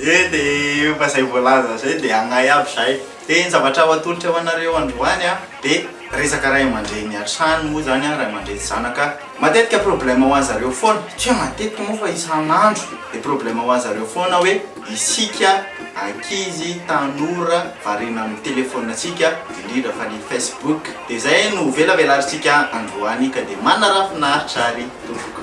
Ie de efa zay voalaza zay de agnahy aby zay de ny zavatra ho atolotra ho anareo androany a de resaka ray aman-dreny hatrany moa zany a ray aman-dreny sy zanaka matetika problème ho anzareo foana tsy hoe matetika moa fa isan'andro de problème ho anzareo foana hoe isika ankizy tanora variana amin'ny téléphone antsika indrindra fa ny Facebook de zay no velavelarintsika androany ka de manara-finaritra ry tompoko.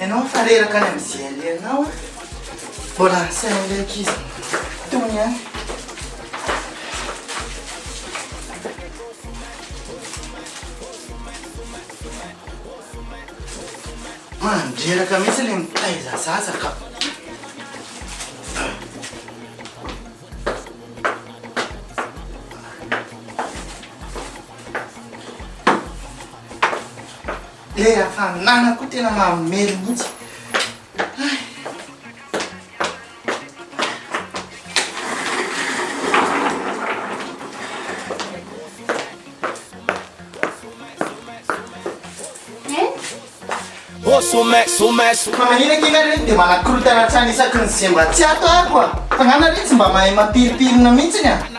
Ianao efa reraka any amin'ny GLE anao a. Mbola asaina ilay ankizy tony ihany. Mandreraka mihitsy ilay mitaiza zaza ka. Ilay hafanana koa tena mamely mihitsy. Ô somay, somay, somay. Fa maninona kely ary dia manakorontana hatrany isaky ny semba tsy ato aho koa. Fa ngana re tsy mba mahay mampiripirina mihitsy ny aho.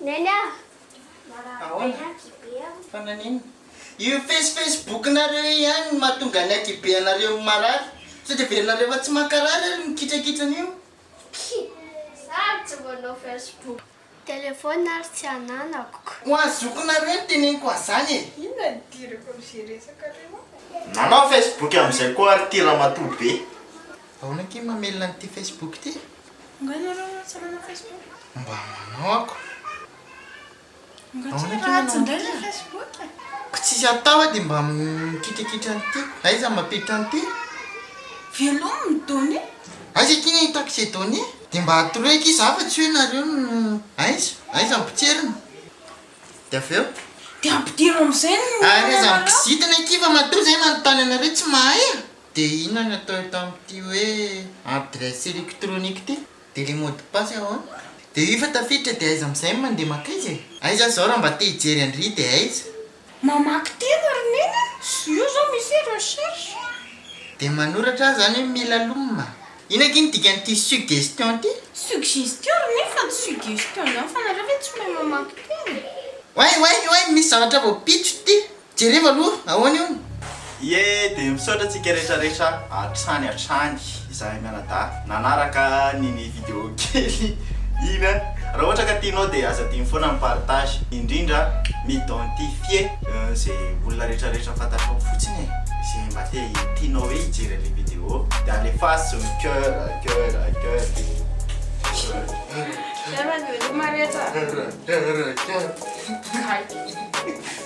Neny ah! Ahoana? Fa naninona? Io face facebook nareo io ihany no mahatonga ny akibe anareo marary. Sao dia verinareo fa tsy mankarary ary ny kitrakitra an'io? Kii! Ary tsy manao facebook. Telephone ary tsy ananako. Ho an'ny zokinareo no teneniko an'izany e! Inona ny idirako amin'izay resakareo ah? Nanao facebook amin'izay koa ary ity ramatoa be. Ahoana ange mamelona an'ity facebook ity? Nga nareo tsy manao Facebook? Mba manao ako. Nga tsy efa ratsy ndray le Facebook e. Ko tsisy atao a de mba mikitrikitra an'ity. Aiza mampiditra an'ity? Velomy ny données. Aiza ity ny ahitako izay données? De mba atoroiko izy afa tsy hoe nareo no aiza? Aiza ny potseriny? De avy eo? De ampidiro amizay ny. Ary aiza ny kizitina ity fa matoa zay manontany anareo tsy mahay a. Dia inona no atao eto amin'ity hoe adresse électronique ity? Dia ilay mot de passe ahoana? Dia io efa tafiditra dia aiza amin'izay no mandeha mankaiza e? Aiza zao raha mba te hijery an-dry dia aiza? Mamaky teny ry neny a! Io zao misy hoe recherche. Dia manoratra aho zany hoe mila lomma. Inona akia ny dikan'ity suggestion ity? Suggestion ry neny fa tsy suggestion zany fa nareo ve tsy mahay mamaky teny? Oay oay oay misy zavatra voapitso ity! Jereo aloha ahoana io? Ie dia misaotra antsika rehetra rehetra hatrany hatrany izahay mianadahy nanaraka ny ny video kely iny a! Raha ohatra ka tianao dia aza adino foana ny partage indrindra m'identifie ze olona rehetra rehetra fantatrao fotsiny e! Ze mba te tianao hoe hijery anle video dia alefaso ny coeur coeur coeur dia. Coeur coeur coeur coeur.